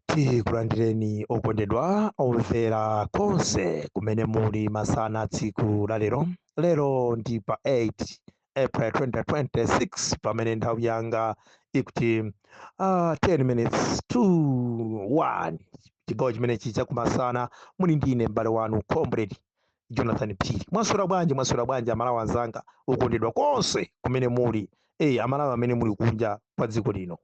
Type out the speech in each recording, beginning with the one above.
tikulandireni okondedwa omvera konse kumene muli masana tsiku la lero lero ndi pa 8 april 2026 pamene nthawi yanga ikuti uh, 10 minutes to 1 chigawo chimene chi chakumasana muli ndine m'bale wanu comrade jonathan phiri mwaswera bwanji mwaswera bwanji amalawi anzanga okondedwa konse kumene muli eyi amalawi amene muli kunja kwa dziko lino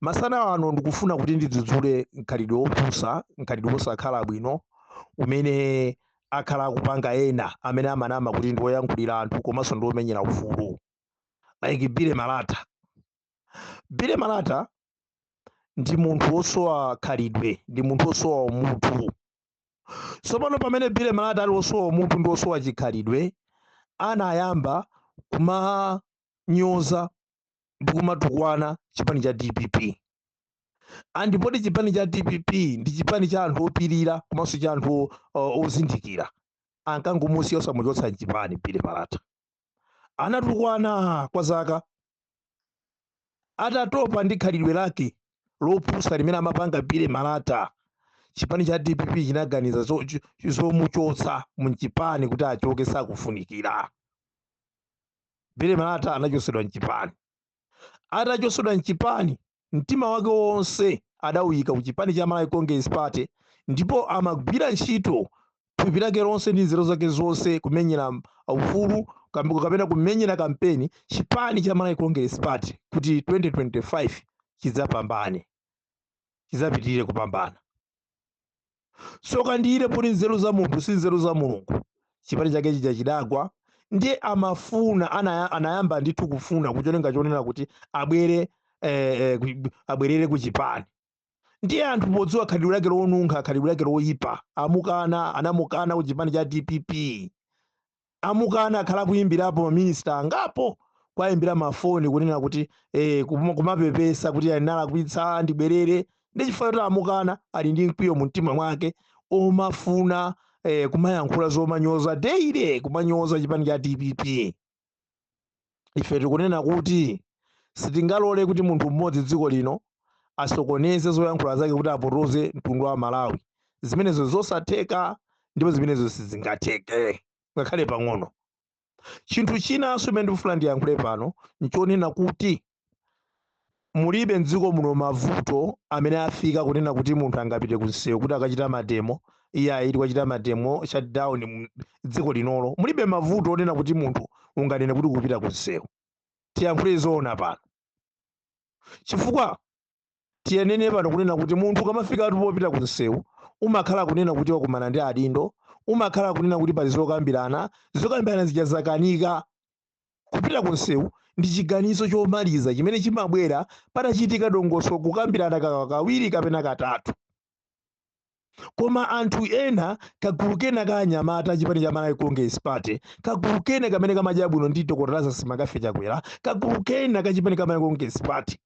masana ano ndikufuna kuti ndidzudzule mkhalidwe wopusa mkhalidwe wosakhala bwino umene akhala akupanga ena amene amanama kuti ndi woyankhulira anthu komanso ndi womenyera ufulu like bile malata bile malata ndi munthu wosowa khalidwe ndi munthu wosowa umunthu tsopano pamene bile malata ali wosowa umunthu ndi wosowa chikhalidwe anayamba kuma kumanyoza ndi kumatukwana chipani cha dpp and poti chipani cha dpp ndi chipani cha anthu opirira komanso cha anthu o- o- ozindikira ankangomusiya osamuchotsa mchipani bile malata anatukwana kwa zaka atatopa ndi khalidwe lake lopusa limene amapanga bile malata chipani cha dpp chinaganiza zo- cho- zomuchotsa mchipani kuti achoke sakufunikira Bile Malata anachotsedwa mchipani. Atachotsedwa mchipani, mtima wake wonse adawuyika ku chipani cha Malawi Congress Party ndipo amagwira ntchito thupi lake lonse ndi nzeru zake zonse kumenyera ufulu kapena kumenyera kampeni chipani cha Malawi Congress Party kuti 2025 chidzapambane, chidzapitirire kupambana. tsoka ndi ilo poti nzeru za munthu si nzeru za mulungu chipani chake chija chidagwa ndiye amafuna anaya- anayamba ndithu kufuna kucholinga chonena kuti abwere eh, eh, ku- abwerere ku chipani ndiye anthu podziwa khalidwe lake lonunkha khalidwe lake loyipa amukana anamukana ku chipani cha dpp amukana akhala akuyimbirapo ma minister angapo kuwayimbira ma phone kunena kuti eh kum- kumapepesa kuti analakwitsa ndibwerere ndi chifukwa choti amukana ali ndi mkwiyo mu mtima mwake omafuna eh, kumayankhula zomanyoza daily kumanyoza chipani cha dpp ife tikunena kuti sitingalole kuti munthu mmodzi dziko lino asokoneze zoyankhula zake kuti apotoze mtundu wa malawi zimenezo zosatheka ndipo zimenezo sizingatheke ngakhale pang'ono chinthu chinanso chimene ndikufuna ndiyankhule pano nchonena kuti mulibe mdziko muno mavuto amene afika kunena kuti munthu angapite kunsewu kuti akachita mademo iyayi ati kwachita mademo shutdown mu- dziko linolo mulibe mavuto onena kuti munthu unganene kuti kupita kunsewu tiyankhule zoona pano chifukwa tiyenene pano kunena kuti munthu ukamafika ati popita kunsewu umakhala kunena kuti wakumana ndi adindo umakhala kunena kuti pali zokambirana zokambirana zija zakanika Kupita ku msewu ndi chiganizo chomaliza chimene chimabwera patachitika dongosolo kukambirana kawiri kapena katatu. Koma anthu ena, kagulu kena ka anyamata a chipani cha Malawi Congress Party, kagulu kena kamene kamadya bwino ndi Dr. Lazarus McCarthy Chakwera, kagulu kena ka chipani cha Malawi Congress Party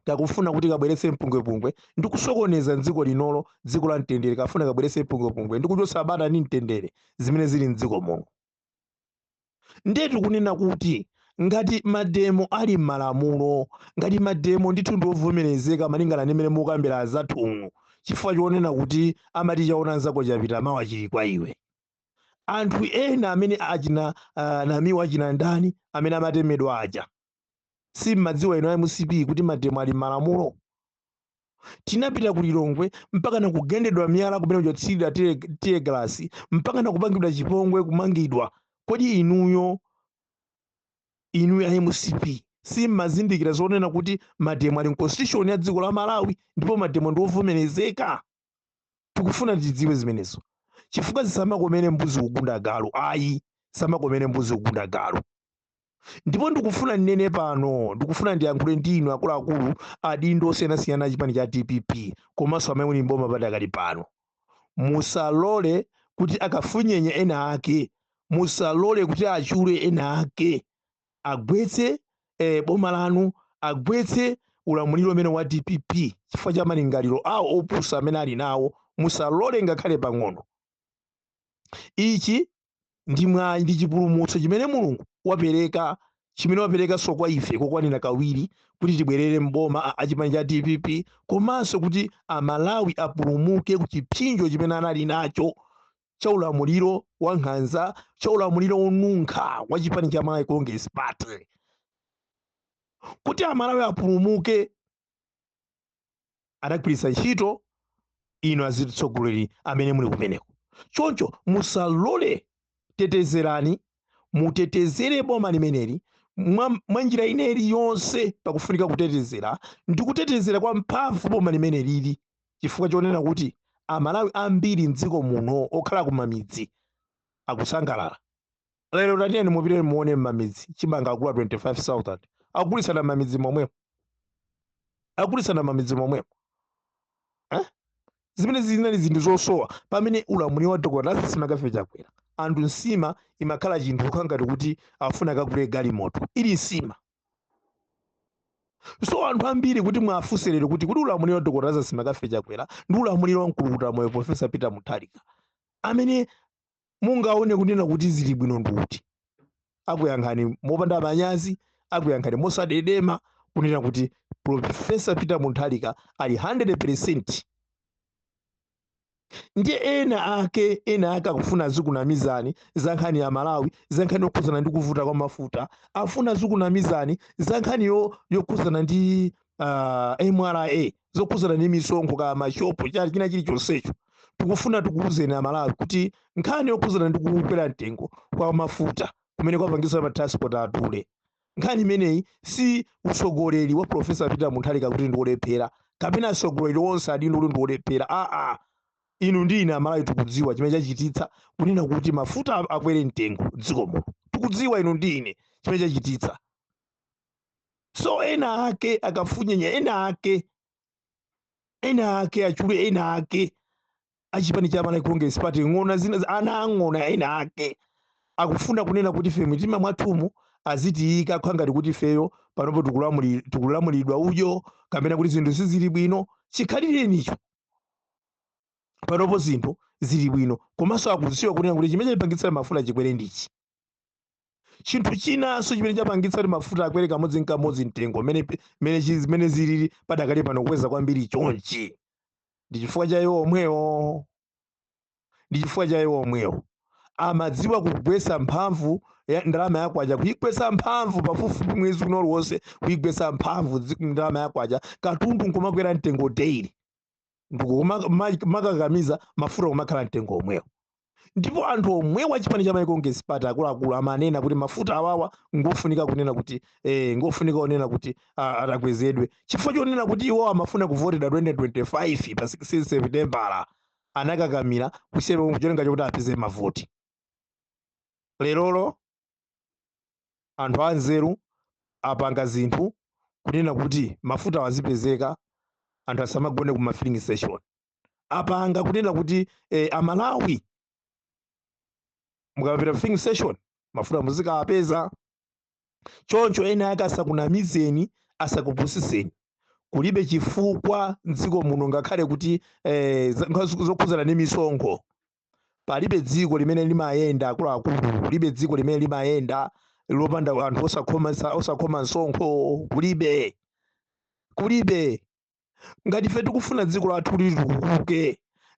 kakufuna kuti kabweretse mpungwepungwe ndi kusokoneza m'dziko linolo, dziko la mtendere. Kafuna kabweretse mpungwepungwe ndi kuchotsa bata ndi mtendere zimene zili m'dziko muno. ndiye tikunena kuti ngati mademo ali m'malamulo ngati mademo ndithu ndi ovomerezeka malingana ndi mmene mukambira azathunu chifukwa chonena kuti amati chaona nzako chapita mawa chili kwa iwe anthu ena amene achina uh, namiwa achina ndani amene amatemedwa aja si mmadziwa inu a mcp kuti mademo ali m'malamulo tinapita ku lilongwe mpaka na kugendedwa miyala kumene kuchotsirira tear gas mpaka na kupangidwa chipongwe kumangidwa kodi inuyo inuyo a mcp simmazindikira zonena kuti mademo ali mconstitution ya dziko la malawi ndipo mademo ndi ovomerezeka tikufuna tidziwe zimenezo chifukwa zisamakomere mbuzi kugunda galu ayi zisamakomere mbuzi kugunda galu ndipo ndikufuna ndinene pano ndikufuna ndiyankhule ndi inu akuluakulu adindo osiyanasiyana achipani cha dpp komanso amene muli mboma padakali pano musalole kuti akafunyenye ena ake musalole kuti achule ena ake agwetse eh, boma lanu agwetse ulamuliro umene wa dpp chifukwa cha malingaliro awo opusa amene ali nawo musalole ngakhale pang'ono ichi ndi ndi chipulumutso chimene mulungu wapereka chimene waperekanso kwa ife kokwanira kawiri kuti tibwerere mboma a- achipani cha dpp komanso kuti amalawi apulumuke ku chipsinjo chimene anali nacho cha ulamuliro wa nkhanza cha ulamuliro wonunkha wa chipani cha malawi congress party kuti amalawi apulumuke adagwiritsa ntchito inu azitsogoleri amene muli kumeneko choncho musalole tetezerani mutetezere boma limeneli mwa mwa njira ina iliyonse pakufunika kutetezera ndi kutetezera kwa mphamvu boma limenelili chifukwa chonena kuti amalawi ambiri mdziko muno okhala kumamidzi akusangalala lero tatiyeni mupite muone mmamidzi chimanga akula 25000 akugulisana mmamidzi momwemo akugulisana mmamidzi momwemo eh? zimene zinali zinthu zosowa pamene ulamuliro wa dr lazarus McCarthy chakwera anthu nsima imakhala chinthu kukhala ngati kuti afuna kagule galimoto ili nsima so anthu ambiri kuti mwafunse lero kuti kodi ulamuliro wa dr lazarus McCarthy chakwera ndi ulamuliro wa mkulukuta moyo profesa peter mutharika amene mungaone kunena kuti zili bwino ndi uti akuyankhani mopanda manyazi akuyankhani mosadedema kunena kuti profesa peter mutharika ali 100 percent ndiye ena ake ena ake akufuna azikunamizani za nkhani ya malawi za nkhani yokhuzana ndi kuvuta kwa mafuta afuna azikunamizani za nkhani yo- yokhuzana ndi uh, mra zokhuzana ndi misonkho kaya mashopo kaya china chilichonsecho tikufuna tikuwuzeni amalawi kuti nkhani yokhuzana ndi kukwera mtengo kwa mafuta kumene kwapangisa ma transport adule Nkhani imeneyi si utsogoleri wa Prof. Peter Mutharika kuti ndi olephera kapena atsogoleri onse adindo kuti ndi olephera aa. Inu ndi ine Amalawi tikudziwa chimene chachititsa kunena kuti mafuta akwere mtengo m'dziko muno. Tikudziwa inu ndi ine chimene chachititsa. So ena ake akafunyenya ena ake, ena ake achule ena ake. achipani cha Malawi Congress Party ng'ona zina za- ana ang'ona ena ake akufuna kunena kuti ife mitima mwathumu azitiyika kukhala ngati kuti ifeyo panopo tikulamuli- tikulamulidwa udyo kapena kuti zinthu sizili bwino chikhalirenicho panopo zinthu zili bwino komanso akuziwa kunena kuti chimene chapangitsa kuti mafuta akwere n'chiyani chinthu chinanso chimene chapangitsa kuti mafuta akwere kamodzi nkamodzi mtengo mene mene chi- zimene zilili padakali pano kukweza kwambiri chonchi ndi chifukwa cha iwo omwewo ndi chifukwa cha iwo omwewo amaziwa kugwesa mphamvu ya ndalama yakwacha kuigwesa mphamvu pafupifupi mwezi wina uliwonse kuigwesa mphamvu dzi- ndalama yakwacha katundu nkumakwera mtengo daily ndikumakakamiza mafuta kumakhala mtengo omwewo ndipo anthu omwewo achipani cha malawi congress party akuluakulu amanena kuti mafuta awawa ngofunika kunena kuti eh, ngofunika kunena kuti ah, atakwezedwe chifukwa chonena kuti iwo amafuna kuvotedwa 2025 pa 16 septembala anakakamira kusiyana kucholinga chokuti apeze mavoti lerolo anthu anzeru apanga zinthu kunena kuti mafuta awa azipezeka anthu asamagone ku mafilling station apanga kunena kuti eh, amalawi mukapita filling station mafuta muzikawapeza choncho ena ake asakunamizeni asakupusiseni kulibe chifukwa mdziko muno ngakhale kuti eh, za- nkha- zokhudzana ndi misonkho palibe dziko limene limayenda akuluakulu kulibe dziko limene limayenda lopanda anthu osakhoma osakhoma msonkho kulibe kulibe ngati ife tikufuna dziko lathu litukuke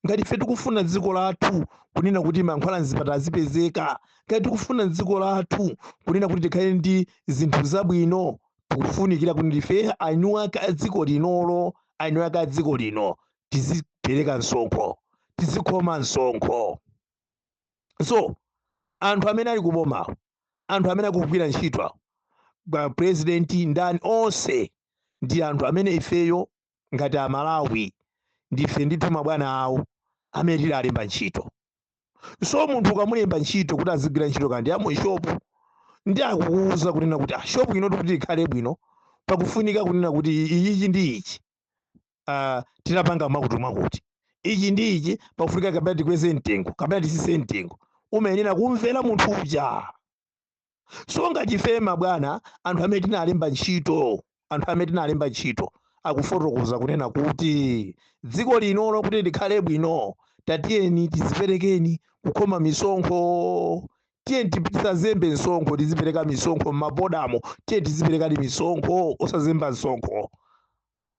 ngati ife tikufuna dziko lathu kunena kuti mankhwala mzipatala azipezeka ngati tikufuna dziko lathu kunena kuti tikhale ndi zinthu zabwino tikufunikira kuti ndife enieni ake a dziko linolo enieni ake a dziko lino tizipereka msonkho tizikhoma msonkho so anthu amene ali kubomawo anthu amene akugwira ntchito awo a president ndani onse ndi anthu amene ifeyo ngati amalawi ndife ndithu mabwana awo amene tidawalemba ntchito so munthu ukamulemba ntchito kuti azigwira ntchito kaya ndi ya mushopu ndi akukuwuza kunena kuti ah, shopu ino kuti ikhale bwino pakufunika kunena kuti iyichi ndi ichi uh, tinapanga mwakuti mwakuti ichi ndi ichi pakufunika kapena tikweze mtengo kapena tisise mtengo umayenera kumvera munthu uja so ngati ife mabwana anthu amene tinalemba ntchito anthu amene tinalemba ntchito akufotokoza kunena kuti dziko linolo kuti likhale bwino tatiyeni tiziperekeni kukhoma misonkho tiyeni tisazembe msonkho tizipereka misonkho m'mabodamo tiyeni tiziperekani misonkho osazemba msonkho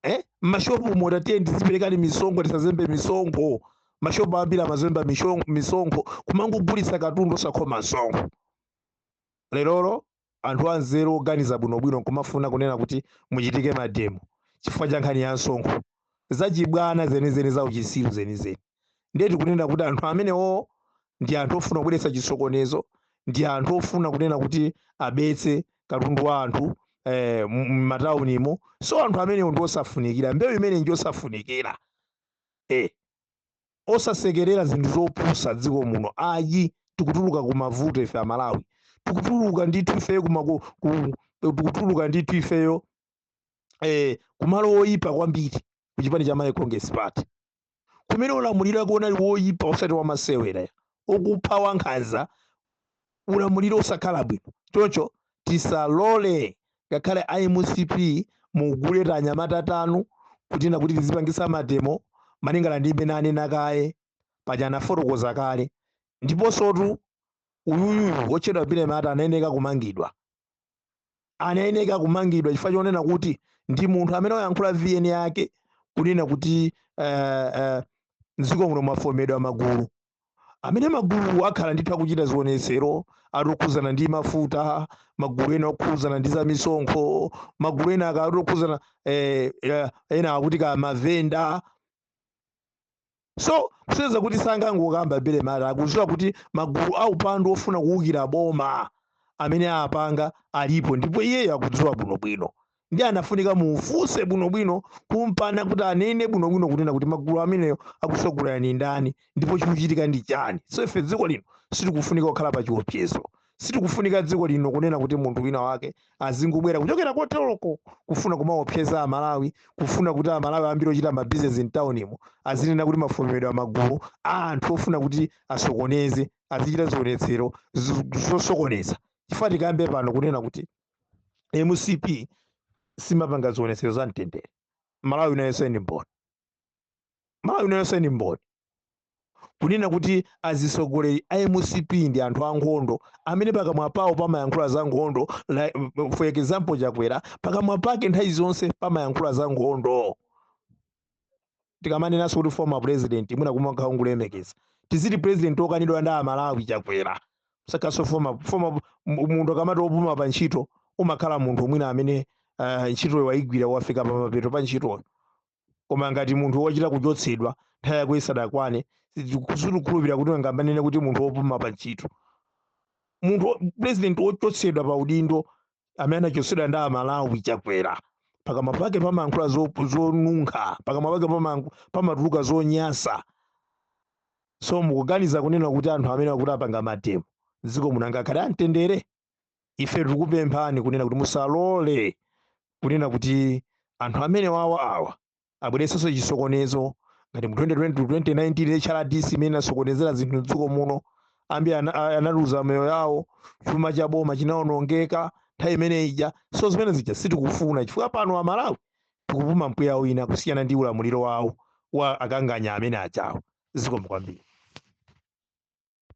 eh? m'mashopumo ta tiye tiziperekani misonkho tisazembe misonkho mashopu ambiri amazemba mishon- misonkho kumangogulitsa katundu osakhoma msonkho lerolo anthu anzeru oganiza bwinobwino nkumafuna kunena kuti muchitike mademo chifukwa cha nkhani ya msonkho zachibwana zenizeni za uchisiru zenizeni ndiye tikunena kuti anthu amenewo ndi anthu ofuna kubweretsa chisokonezo ndi anthu ofuna kunena kuti abetse katundu wa anthu eh, m'mataunimo so anthu amenewo ndi osafunikira mbewu imene ndi osafunikira eh, osasekerera zinthu zopusa mdziko muno ayi tikutuluka ku mavuto ife amalawi tikutuluka ndithu ifeyo tikutuluka ndithu ifeyo eh, kumalo oyipa kwambiri ku chipani cha malawi congress party kumene ulamuliro wake unali woyipa osati wamasewera okupha wankhanza ulamuliro osakhala bwino choncho tisalole ngakhale a mcp mugule anyamata anu kunena kuti tizipangisa mademo malingana ndi mmene anena kaye paja anafotokoza kale ndiponsotu uyuyu wotchedwa bire mata anayeneka kumangidwa anayeneka kumangidwa chifukwa chonena kuti ndi munthu amene wayankhula vn yake kunena kuti eh, eh, mdziko muno mwafomedwa magulu amene magulu akhala ndithu akuchita zionetsero ati okhuzana ndi mafuta magulu ena okhuzana ndi za misonkho magulu ena akuti okhuzana eh, eh, ena akuti ka mavenda so kusonyeza kuti sangangokamba bele mati akuziwa kuti magulu aupandu ofuna kuwukira boma amene apanga alipo ndipo iyeyo akudziwa bwinobwino ndi anafunika mufunse bwinobwino kumpana kuti anene bwinobwino kunena kuti magulu ameneyo akusogolera ndi ndani ndipo chikuchitika ndi chani so ife dziko lino sitikufunika kukhala pa chiopsezo Sitikufunika dziko lino kunena kuti munthu wina wake azingobwera kuchokera koteloko kufuna kumaopseza Amalawi, kufuna kuti Amalawi ambiri ochita mabizinesi mtaunimo azinena kuti mafomedwa magulu a anthu ofuna kuti asokoneze, azichita zionetsero zosokoneza. Chifukwa tikambe pano kunena kuti mcp simapanga zionetsero za mtendere, Malawi ino yonse ndi mboni. malawi ino yonse ndi mboni kunena kuti azitsogoleri a mcp ndi anthu ankhondo amene pakamwa pawo pamayankhula za nkhondo like, for example chakwera pakamwa pake nthawi zonse pamayankhula za nkhondo tikamanenanso kuti former president mwina kumakhala ngumulemekeza tiziti president okanidwa ndi amalawi chakwera osatinso former former mu- munthu akamati opuma pa ntchito umakhala munthu mwina amene uh, ntchitoyo waigwira wafika pa mapeto pa ntchitoyo koma ngati munthu wochita kuchotsedwa nthawi yako isadakwane sitikukhulupirira kuti angamanene kuti munthu wopuma pa ntchito munthu wo- president wochotsedwa pa udindo amene anachotsedwa ndi amalawi chakwera pakamwa pake pamayankhula zo- zonunkha pakamwa pake pamayankhu- pamatuluka zonyasa so mukuganiza kunena kuti anthu amene akuti apanga mademo dziko muno angakhale amtendere ife tikupemphani kunena kuti musalole kunena kuti anthu amene wawa awa abweretsenso chisokonezo ngati mu 2020 to 2019 HRDC imene inasokonezera zinthu mdziko muno ambiri ana- a- analuza moyo yawo chuma cha boma chinaonongeka nthawi imene ija so zimene zija sitikufuna chifukwa pano amalawi tikupuma mpweya wina kusiyana ndi ulamuliro wawo wa akanganya amene achawo zikomo kwambiri